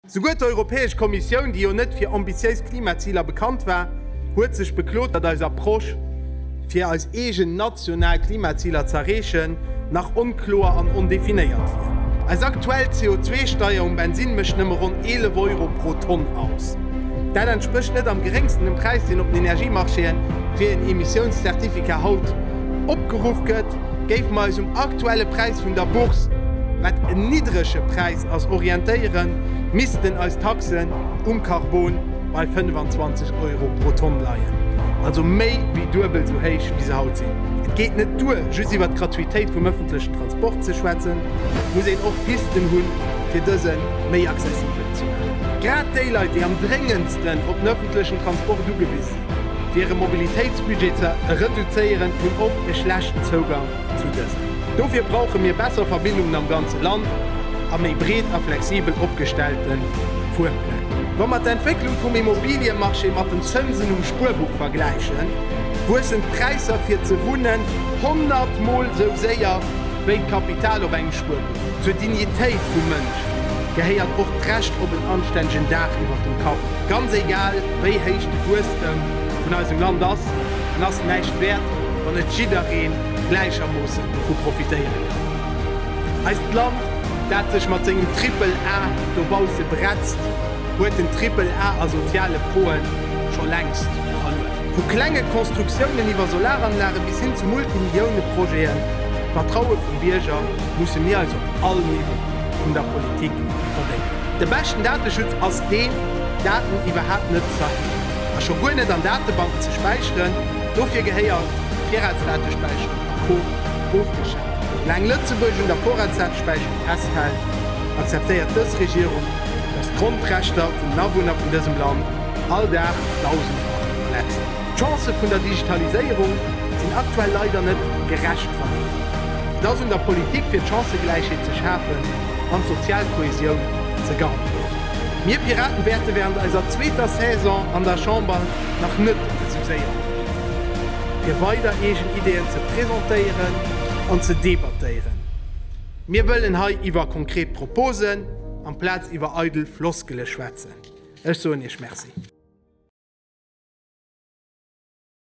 Souguer d'Europäesch Kommissioun, déi jo net fir ambitiéis Klimaziler bekannt war, huet sech beklot, datt eis Approche, fir eis eegen national Klimaziler ze erreechen, nach onkloer an ondefinéiert wier. Eis aktuell CO2-Steier um Bensinn mécht nëmme ronn 11 Euro pro Tonn aus. Dat entsprécht net am geréngsten dem Präis, deen op den Energiemarchéen fir een Emissiounscertificat haut opgeruff gëtt. Géife mer eis um aktuelle Präis vun der Bourse, wat en niddrege Präis, Als orientéieren missten eis Taxen um Carbon bei 25 Euro pro Tonn leien, also méi wéi duebel sou héich wéi se haut sinn. Et geet net duer just iwwert d'Gratuitéit vum ëffentlechen Transport ze schwätzen, et muss een och Pisten hunn fir dëse méi accessibel ze maachen. Grad déi Leit déi am dréngendsten op den ëffentlechen Transport ugewise sinn, fir hire Mobilitéitsbudget ze reduzéieren, hunn oft e schlechten Zougang zu dësen. Dofir brauche mir besser Verbindungen am ganze Land a méi breet a flexibel opgestellte Fuerpläng. Wa mer d'Entwécklung vum Immobiliëmarché mat den Zënsen um Spuerbuch vergläichen, wuessen d'Präisser fir ze wunnen 100 Mol esou séier wéi d'Kapital op engem Spuerbuch. Zur Dignitéit vum Mënsch gehéiert och d'Recht op en anstännegen Daach iwwer dem Kapp, ganz egal wéi héich de Wuesstem vun eisem Land ass. en ass näischt wäert, wann net jiddereen gläichermoossen dovu profitéieren kann. Eist Land, dat sech mat sengem Triple A dobausse bretzt, huet den Triple A a soziale Froen scho längst verluer. Vu klenge Constructiounen iwwer Solaranlage bis hin zu Multimillioune-Projeten, d'Vertraue vum Bierger musse mir eis op all Niveau vun der Politik verdéngen. De beschten Dateschutz ass deen, Daten iwwerhaapt net ze erhiewen. a scho guer net an Datebanken ze späicheren. Dofir gehéiert Virratsdatespäicherung a Co ofgeschaaft. Soulaang Lëtzebuerg un der Vorratsdatespäicherung festhält, akzeptéiert dës Regierung, datt d'Grondrechter vun den Awunner vun dësem Land all Dag dausendfach verletzt ginn. D'Chancë vun der Digitaliséierung sinn aktuell leider net gerecht verdeelt. Et ass un der Politik fir d'Chancëgläichheet ze schafen an d'sozial Kohäsioun ze garantéieren. Mir Piraten wäerte während eiser zweeter Saison an der Chamber nach net de Succès erliewen, fir weider eegen Ideeën ze presentéieren an ze debattéieren. Mir wëllen hei iwwer konkret Proposen amplaz iwwer eidel Floskele schwätzen. Ech soen Iech Merci.